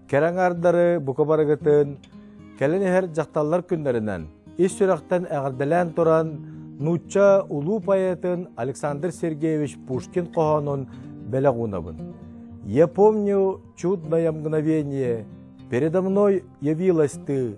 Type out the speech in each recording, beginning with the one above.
Кэрэ аҥаардары бука барыгытын кэлин иһэр дьахталлар күннэринэн ис сүрэхтэн эҕэрдэлээн туран нуучча улуу поэтын Александр Сергеевич Пушкин хоһоонун бэлэх уунабын. Я помню чудное мгновение, передо мной явилась ты,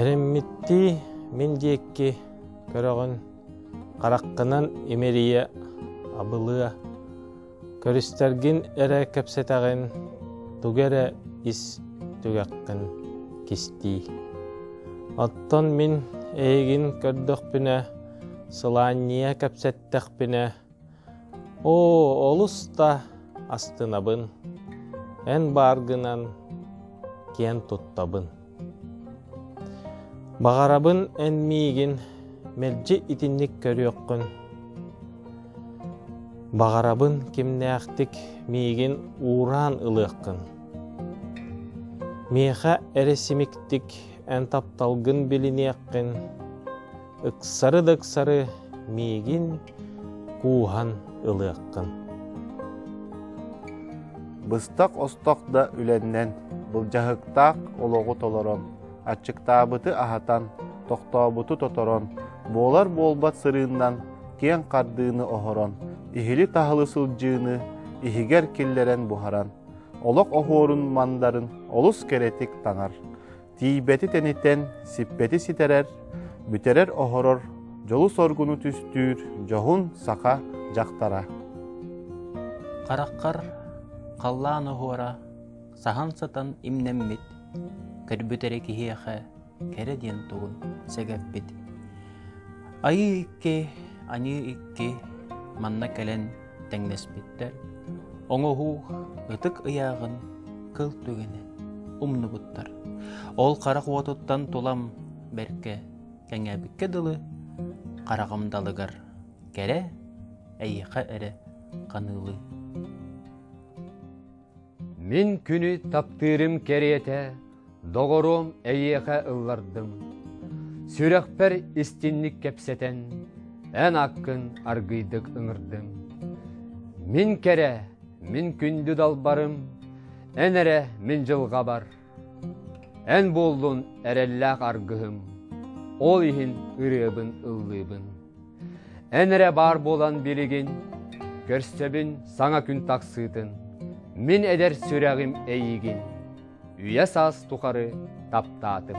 Эрэммиттии мин диэки көрөҕүн, хараххынан имэрийэ, абылыа. Көрүстэргин эрэ кэпсэтэҕин, тугу эрэ ис түгэххин кистии. Оттон мин эйигин көрдөхпүнэ, сылаанньыйа кэпсэттэхпинэ, Оо, олус да астынабын, эн баар гынан киэн туттабын. Баҕарабын эн миигин мэлдьи итинник көрүөххүн. Баҕарабын кимнээхтик миигин уураан ылыаххын. Миэхэ эрэ симиктик эн тапталгын билиниэххин, Ыксары да ыксары миигин кууһан ылыаххын. Быстах остох да үлэннэн былдьаһыктаах олоҕу толорон, аччыктаабыты аһатан, тохтообуту тоторон, буолар-буолбат сырыыннан киэҥ хардыыны оһорон, иһили-таһылы сылдьыыны иһигэр киллэрэн буһаран, олох оһуорун мандарын олус кэрэтик таҥар, Тиийбэти тэнитэн, сиппэти ситэрэр, бүтэрэр-оһорор, дьолу-соргуну түстүүр дьоһун саха дьахтара. Хараххар халлаан оһуора саһан сытан имнэммит, көрбүт эрэ киһиэхэ кэрэ диэн тугун сэгэппит. Айыы икки, аныы икки манна кэлэн тэҥнэспиттэр. Оҥоһуу ытык ыйааҕын кыл түгэнэ умнубуттар. Ол харах уотуттан тулам бэркэ кэҥээбиккэ дылы, хараҕым далыгар кэрэ, эйиэхэ эрэ ханыылыы. Мин күнү таптыырым кэриэтэ, доҕоруом эйиэхэ ыллардым. Сүрэхпэр истинник кэпсэтэн, эн аккын аргыйдык ыҥырдым. Мин кэрэ, мин күндү далбарым, эн эрэ мин дьылҕабар Эн буоллун эрэллээх аргыһым, ол иһин ырыабын ыллыыбын. Эн эрэ баар буолан билигин, көрсөбүн саҥа күн тахсыытын, мин эдэр сүрэҕим эйигин, үйэ-саас тухары таптаатым.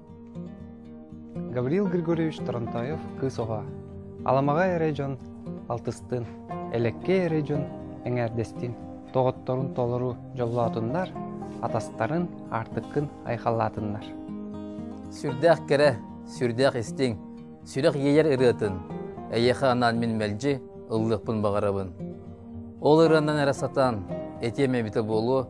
Гаврил Григорьевич Торонтоев кыыс оҕо, Аламаҕа эрэ дьон алтыстыын, Элэккэй эрэ дьон эҥээрдэстиин доҕотторун толору дьоллоотуннар, атастарын аартыккын айхаллаатыннар. Сүрдээх кэрэ, сүрдээх истиҥ, сүрэх иэйэр ырыатын эйиэхэ анаан мин мэлдьи ыллыахпын баҕарабын. Ол ырыанан эрэ сатаан этиэм эбитэ буолуо,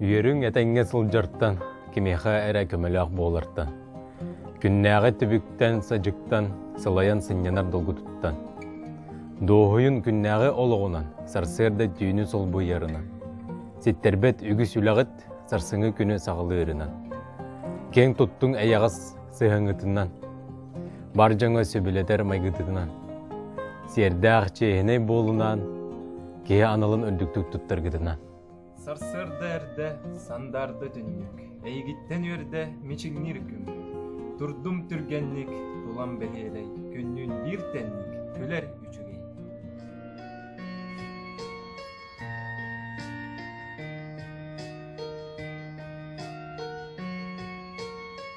Үөрүҥ этэҥҥэ сылдьартан, кимиэхэ эрэ көмөлөөх буолартан, күннээҕи түбүктэн-садьыктан сылайан сынньанар долгутуттан, дуоһуйун күннээҕи олоҕунан, сарсыарда түүнү солбуйарынан, ситтэрбэт үгүс үлэҕит сарсыҥҥы күнү саҕалыырынан, киэҥ туттуҥ эйэҕэс сыһыҥытынан, бар дьоҥҥо сөбүлэтэр майгытытынан, сиэрдээх чиэһинэй буолунаан, киһи аналын үрдүктүк туттаргытынан. Сарсыарда эрдэ, сандаарда түннүк, эйигиттэн үөрдэ мичилиир күн. Турдум түргэнник, тулам бэһиэлэй, күннүүн биир тэнник, күлэр үчүгэй.